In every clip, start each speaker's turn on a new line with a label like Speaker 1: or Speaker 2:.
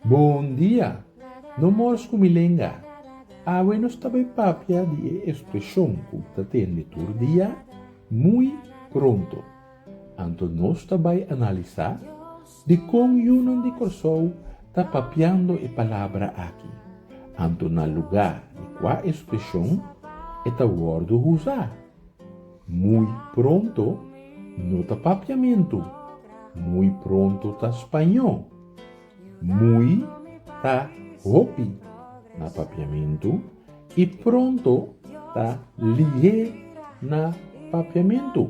Speaker 1: Bon dia! No mors ku mi lenga. Awe nos ta bai papia di e espreshon ku ta tende tur dia, muy pronto. Anto nos ta bai analisá Dikon yunan di Kòrsou ta papiando e palabra aki, anto na lugá di kua espreshon e ta wòrdu usá? Muy pronto no ta papiamentu, muy pronto ta spañó. Muy ta hopi na papiamentu i pronto ta lihé na papiamentu.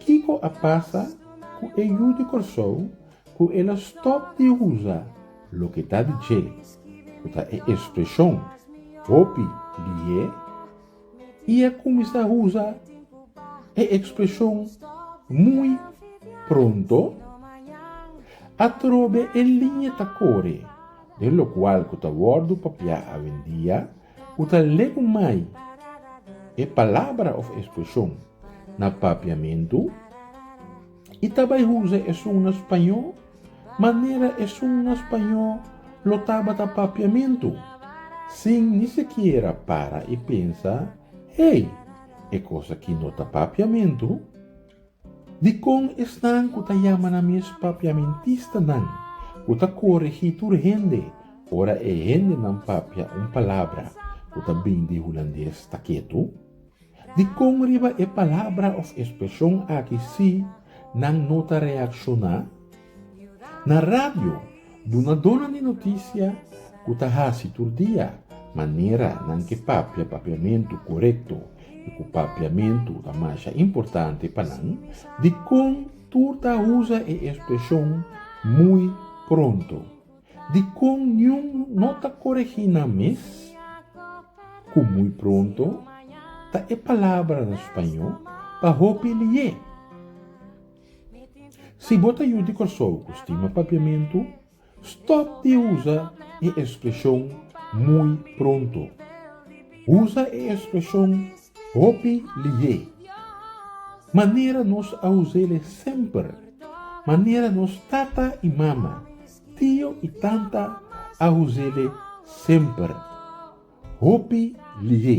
Speaker 1: Kiko a pasa ku e yu di Kòrsou ku el a stòp di usa loke ta di dje, ku ta e espreshon hopi di ye, i a kuminsá usa e espreshon muy pronto? Atrobe e liña ta kore den lokual ku ta wòrdu papiá awendia Ku ta leu mai e palabra òf ekspreshon na papiamentu i ta bai usa esun na spañó manera esun na spañó lo tabata papiamentu, sin ni sikiera para i pensa, Hey, e kos aki no ta papiamentu. Dikon esnan ku ta yama nan mes papiamentistanan ku ta korigí tur hende ora e hendenan papia un palabra ku ta bini di hulandes ta ketu? Dikon riba e palabra òf espreshon aki sí nan no ta reakshoná? Na radio, bu na duna di notisia ku ta hasi tur dia, manera nan ke papia papiamentu korekto i ku papiamentu ta masha importante pa nan, di kon tur ta usa e ekspreshon muy pronto, di kon niun no ta koregí nan mes ku muy pronto ta e palabra na spañó pa hopi li'é. Si bo ta yu di Kòrsou ku stima papiamentu, stòp di usa e espreshon muy pronto. Usa e espreshon hopi lihe. Manera nos a us'el e semper. Manera nos tata i mama, tio i tanta a us'el e semper. Hopi lihe.